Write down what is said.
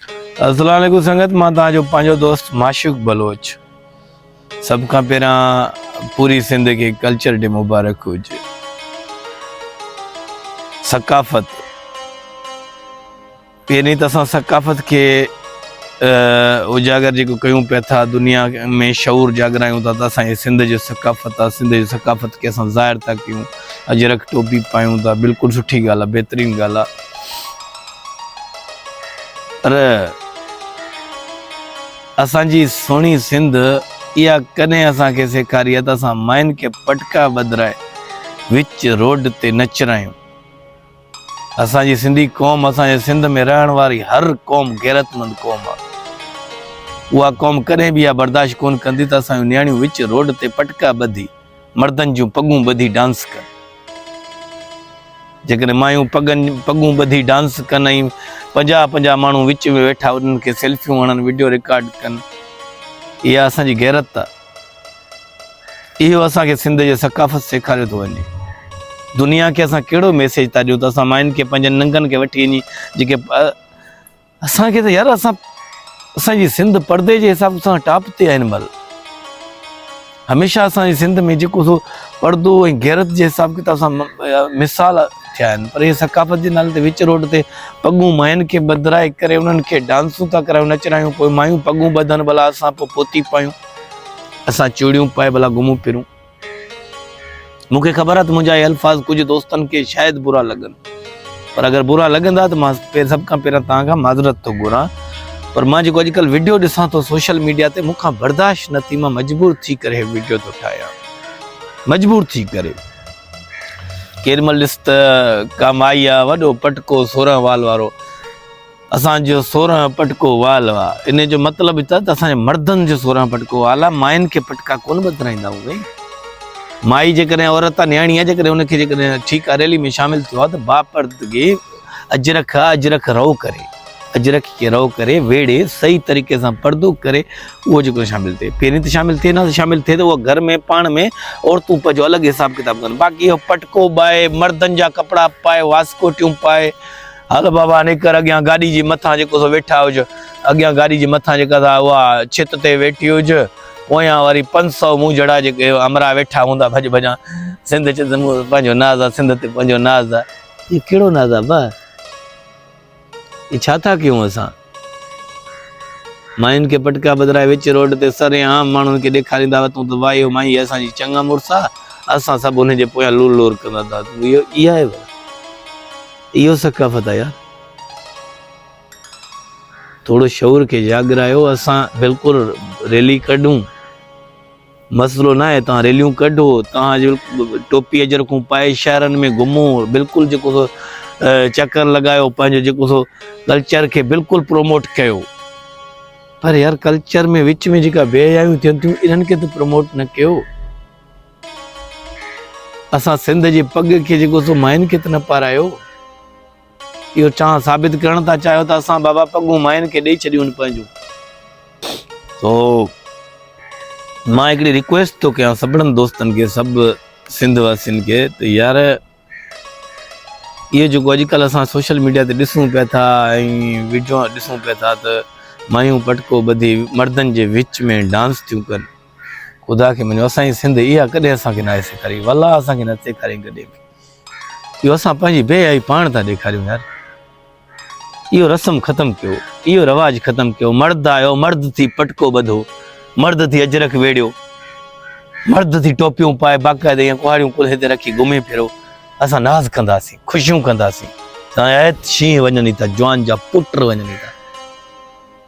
السلام عليڪم سنگت مان تان جو پانجو دوست معشوق بلوچ سب کان پهران پوري سنڌ کي کلچر ڊي مبارڪ هجي ثقافت پهرين ته اسان ثقافت کي اجاگر جيڪو ڪيون پيا ٿا دنيا ۾ شعور جاگرايون ٿا ته اسان جي سنڌ جو ثقافت آ سنڌ جو ثقافت کي اسان ظاهر ٿا ڪيون اجرڪ ٽوپي پايون ٿا بلڪل سٺي ڳالهه آ بهترين ڳالهه آ پر اسان جي سهڻي سنڌ اها ڪڏهن اسان کي سيکاري آهي ته اسان ماين کي پٽڪا ٻڌرائي وچ روڊ تي نه چرايون. اسان جي سنڌي قوم اسان جي سنڌ ۾ رهڻ واري هر قوم غيرتمند قوم آهي. اها قوم ڪڏهن به اها برداشت ڪونه ڪندي ته اسان جون نياڻيون وچ روڊ تي پٽڪا ٻڌي مردن جون پڳون ٻڌي ڊانس ڪن جيڪڏهن مايون پڳن پڳون ٻڌي ڊانس ڪن ۽ پنجاهه پنجاهه ماڻهو وچ ۾ ويٺا انهن کي سيلفيون هڻن ويڊيو رڪارڊ ڪن اها اسانجي غيرت آهي اهو اسانکي سنڌ جي ثقافت سيکاريو ٿو وڃي دنيا کي اسان ڪهڙو ميسيج ٿا ڏيون ته اسان ماين کي پنهنجن ننگن کي وٺي وڃي جيڪي اسان کي ته يار اسان اسان جي سنڌ پردي جي حساب سان ٽاپ تي آهي هن مهل هميشه اسان جي سنڌ ۾ جيڪو سو پردو ۽ غيرت جي حساب ڪتاب سان مثال ٿيا آهن پر هي ثقافت جي نالي تي وچ روڊ تي پڳون ماين کي بدرائي ڪري انهن کي ڊانسون ٿا ڪرايون نچرايون پوء مايون پڳون ٻڌن ڀلا اسان پوء پوتي پايون اسان چوڙيون پائي ڀلا گهمون پھرون مون کي خبر آهي ته منهنجا اهي الفاظ ڪجهه دوستن کي شايد برا لڳن پر اگر برا لڳندا ته مان سڀ کان پهريان توهان کان معذرت ٿو گهران پر مان جيڪو اڄڪلهه وڊيو ڏسان ٿو سوشل ميڊيا تي مون کان برداشت نه ٿي مان مجبور ٿي ڪري هي وڊيو ٿو ٺاهيان مجبور ٿي ڪري ڪيڏي مهل ڏس ته ڪا مائي آهي وڏو پٽڪو سورهن وال وارو اسان جو سورهن پٽڪو وال آ. انهيء جو مطلب هي ته اسان جي مردن جو سورهن پٽڪو وال آ. ماين کي پٽڪا ڪونه ٻڌرائيندا آهيون سائين. مائي جيڪڏهن عورت آ، نياڻي آ، جيڪڏهن ان کي جيڪڏهن ٺيڪا ريلي ۾ شامل ٿيو آ ته باپردگي اجرڪ آ، اجرڪ رئو ڪري، اجرڪ کي رئو ڪري، ويڙهي، صحيح طريقي سان پردو ڪري، اهو جيڪو شامل ٿئي. پهرين ته شامل ٿئي نه ها، شامل ٿئي ته اها گهر ۾ پاڻ ۾ عورتون پنهنجو الڳ حساب ڪتاب ڪن. باقي اهو پٽڪو ٻائي، مردن جا ڪپڙا پائي، واسڪوٽيون پائي، هل بابا نڪر اڳيان گاڏي جي مٿان جيڪو سو ويٺا هج. اڳيان گاڏي جي مٿان جيڪا سا اها ڇت تي ويٺي هج. پويان وري پنج سؤ مون جھڙا جيڪي همراهه ويٺا هوندا ڀڄ ڀڄان سنڌ چت مون پنهنجو ناز آ سنڌ تي پنهنجو ناز آ. هي ڪهڙو ناز آ ابا؟ هي ڇا ٿا ڪيون اسان؟ ماين کي پٽڪا ٻڌرائي وچ روڊ تي سري عام ماڻهن کي ڏيکاريندا هئا تون ته واهي هو مائي هي اسان جي چڱا مڙس آ اسان سڀ انهن جي پويان لور لور ڪندا ٿا اهو اها آهي ڀلا اهو ثقافت آ يار ٿورو شعور کي جاڳرايو اسان بلڪل ريلي ڪڍون مسئلو ناهي توهان ريليون ڪڍو توهان جو ٽوپي اجرڪون پائي شهرن ۾ گهمو بلڪل جيڪو سو چڪر لڳايو پنهنجو جيڪو سو ڪلچر کي بلڪل پروموٽ ڪيو پر يار ڪلچر ۾ وچ ۾ جيڪا بي حيايون ٿين ٿيون انهن کي ته پروموٽ نه ڪيو اسان سنڌ جي پڳ کي جيڪو سو مائن کي ته نه پارايو اهو چانهه ثابت ڪرڻ ٿا چاهيو ته اسان بابا پڳون ماين کي ڏئي ڇڏيون آهن پنهنجون سو مان هڪڙي ريڪويسٽ ٿو ڪيان سڀڙن دوستن کي سڀ سنڌ واسين کي ته يار اهو جيڪو اڄڪلهه اسان سوشل ميڊيا تي ڏسون پيا ٿا ۽ ويڊيو ڏسون پيا ٿا ته مايون پٽڪو ٻڌي مردن جي وچ ۾ ڊانس ٿيون ڪن خدا کي مڃو اسان جي سنڌ اها ڪڏهن اسان کي ناهي سيکاري والله اسان کي نه سيکارين ڪڏهن به اهو اسان پنهنجي بي آئي پاڻ ٿا ڏيکاريون يار اهو رسم ختم ڪيو اهو رواج ختم ڪيو مرد آيو مرد ٿي پٽڪو ٻڌو مرد ٿي اجرڪ ويڙيو مرد ٿي ٽوپيون پائي باقاعدي ائين ڪهاڙيون ڪلهي تي رکي گهمي پھرو اسان ناز ڪنداسين خوشيون ڪنداسين سائين شينهن وڃن ٿا جوان جا پٽ وڃن ٿا